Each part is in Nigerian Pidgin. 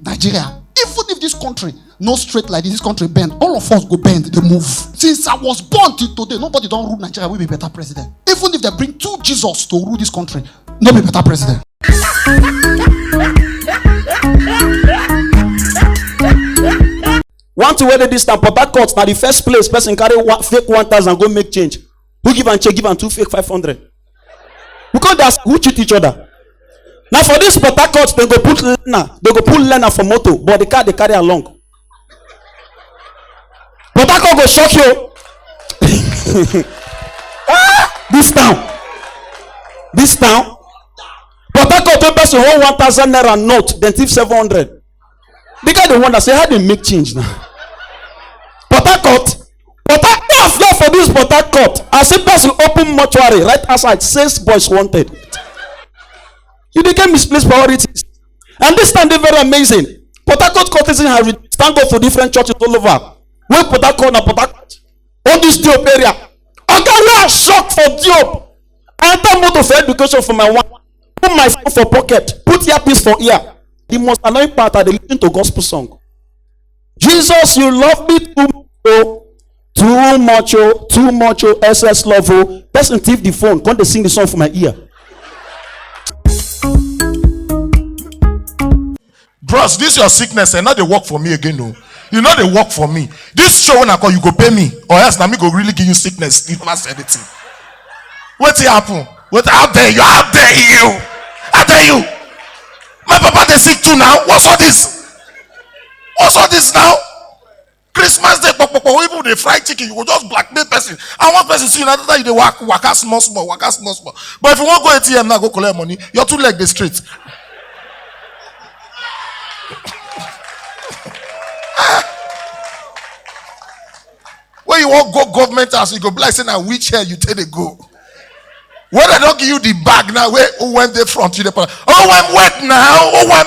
Nigeria. Even if this country no straight like this, this country bend, all of us go bend, they move. Since I was born till today, nobody don't rule Nigeria, we be better president. Even if they bring two Jesus to rule this country, no be better president. one thing wey dey dis town port harcourt na the first place person carry one, fake one thousand go make change who give am check give am two fake five hundred we come dey ask who cheat each other na for this port harcourt dem go put learner dem go put learner for motor but the car dey carry am long port harcourt go shock you ah this town this town port harcourt wey person hold one thousand naira note dem thief seven hundred the guy dey wonder say how dem make change now port harcourt port harcourt no for this port harcourt as if person open mortuary right outside says boys wanted you dey get misplaced priorities and this time dey very amazing port harcourt courtesan has reduced thank god for different churches all over wey port harcourt na port harcourt all this diop area oga wey i shock for diop i enter motor for education for my one put my phone for pocket put earpiece for ear the most annoying part i dey lis ten to gospel song jesus you love me too much o too much o too much o ss love o person thief the phone come dey sing the song for my ear bros this your sickness eh no dey work for me again o e no dey work for me this show wey i call you go pay me or else na me go really give you sickness if na say anything wetin happen wetin how dare you how dare you how dare you my papa dey sick too now what's all this what's all this now christmas day popopo even dey fry chicken you go just blackmail person and one person see you na that you dey waka waka small small waka small small but if you wan go atm now go collect money your two leg dey straight when you wan go government house you go be like say na wheelchair you take dey go when dem don give you the bag now wey owem dey front you dey put owem wait now owem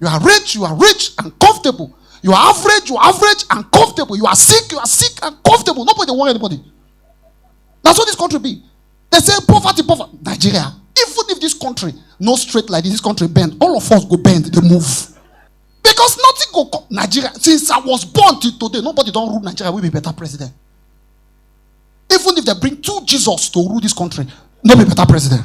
You are rich, you are rich and comfortable. You are average, you are average and comfortable. You are sick, you are sick and comfortable. Nobody want anybody. That's what this country be. They say poverty, poverty. Nigeria. Even if this country no straight like this, this country bend, all of us go bend, they move. Because nothing go come. Nigeria. Since I was born till today, nobody don't rule Nigeria. We be better president. Even if they bring two Jesus to rule this country, no be better president.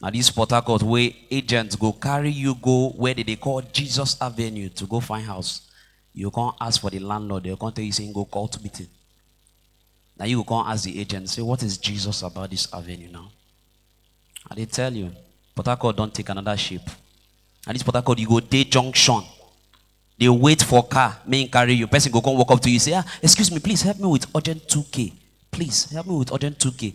na this port harcourt wey agents go carry you go where they dey call jesus avenue to go find house you come ask for the landlord they come tell you say him go cult meeting na you go come ask the agent say what is jesus about this avenue now i dey tell you port harcourt don take another shape and this port harcourt you go dey junction dey wait for car make him carry you person go come walk up to you say ah excuse me please help me with urgent 2k please help me with urgent 2k